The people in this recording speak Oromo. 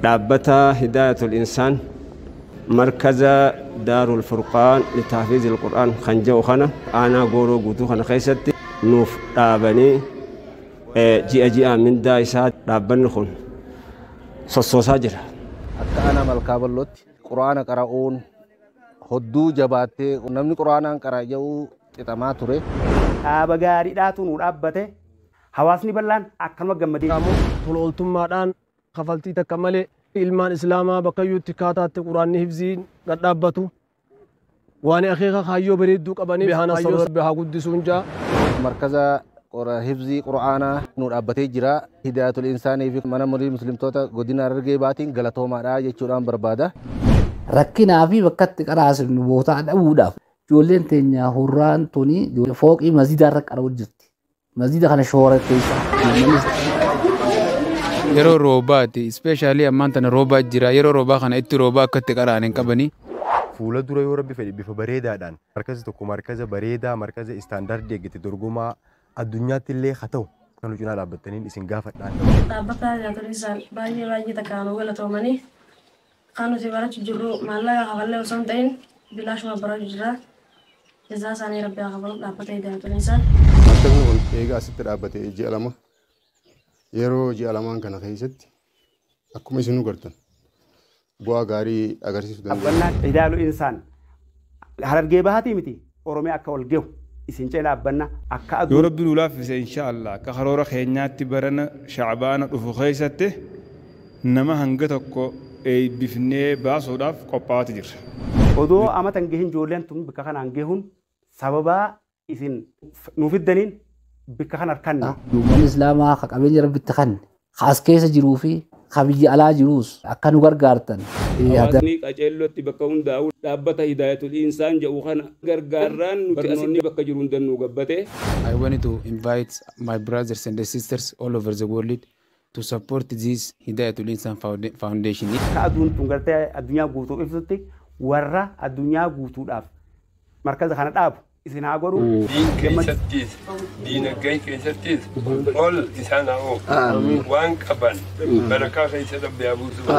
dhaabbata Hidaayatul Insaan markaza Daarul Furqaan Litahfiizil Qur'aan kan jedhu kana aanaa gooroo guutuu kana keessatti nuuf dhaabanii ji'a ji'aan mindaa isaa dhaabbanni kun sossoosaa jira. Akka aanaa malkaa bal'ootti quraana qara'uun hodduu jabaattee namni quraanaan qara'a jedhu xixamaa ture. Dhaaba gaariidhaatu nu dhaabbate. Hawaasni bal'aan akkanuma gammadee jira. Qaamonni tola ooltummaadhaan kafaltii takka malee ilmaan Islaamaa bakkayyuutti kaataatte Qur'aanni hifziin gad dhaabbatu waani akeeka kaayyoo bareedduu qabaniif Beehaa Nasaroo Rabbi haa guddisuun ja'a. Markaza Hifzii Qur'aanaa nuu dhaabbatee jira. Hidaayatul Insaanii fi Mana Marii Muslimtoota Godina Harargee Bahaatiin galatoomaadha jechuudhaan barbaada. Rakkinaa fi bakka itti qaraasifnu bootaa dhabuudhaaf ijoolleen teenya hurraan tuni fooqii masjiidaa irra qara'u jirti. masjida kana shooratteessa yeroo roobaati ispeeshaalii ammaan tana roobaa jira yeroo roobaa kana itti roobaa akka itti qara'an hin qabanii fuula dura yoo rabbi fedhe bifa bareedaadhaan markazi tokko markaza bareedaa markaza istaandaardii eeggate dorgomaa addunyaatti illee haa ta'u kan nu cinaa dhaabbattaniin isin gaafadhaan. Dhaabbata Yaatoliisaan baay'ee baay'ee takkaan nu galatoomanii Kan nuti barachu jirru maallaqa kafallee osoo hin ta'in bilaashuma barachu jirra. Jazaa isaanii rabbi haa kafalu dhaabbata Hidaayatul Insaan. Maktabni kun eega asitti dhaabbate ji'a lama. Yeroo ji'a lamaan kana keessatti akkuma isinuu gartan bu'aa gaarii agarsiisuu dandeenya. Dhaabbannaa Hidaayatul Insaan Harargee Bahaatii miti. Oromia akka wal gehu isin cina dhaabbanna akka Yoo aduun. Rabbi nu laaffise inshaa Allah akka karoora keenyaatti barana Sha'baana dhufu keessatti nama hanga tokko eeybifnee baasuudhaaf qophaa'aati jirra. Odoo amata hin gehin joolleen tun bikka kanaan gehun sababaa isin nu fiddaniin bikka kan arkanne. Uummanni Islaamaa ka qabeenya Rabbi itti kanne ka as keessa jiruu fi ka biyya alaa jiruus akka nu gargaartan yaada. Hawaasni Qaceellootti bakka hundaa'u dhaabbata Hidaayatul Insaan jedhu kana gargaarraan nuti asitti bakka jiru hundaan nu gabbate. I want to invite my brothers and sisters all over the world to support this Hidayatul Insan Foundation. Akka aduun tun gartee addunyaa guutuu ibsutti warra addunyaa guutuudhaaf markaza kana dhaabu. isin haa godhu. Diin keessattis diinagdee keessattis ol isaan haa oofu. Waan qaban barakaa keessa dhabbe haa buusu.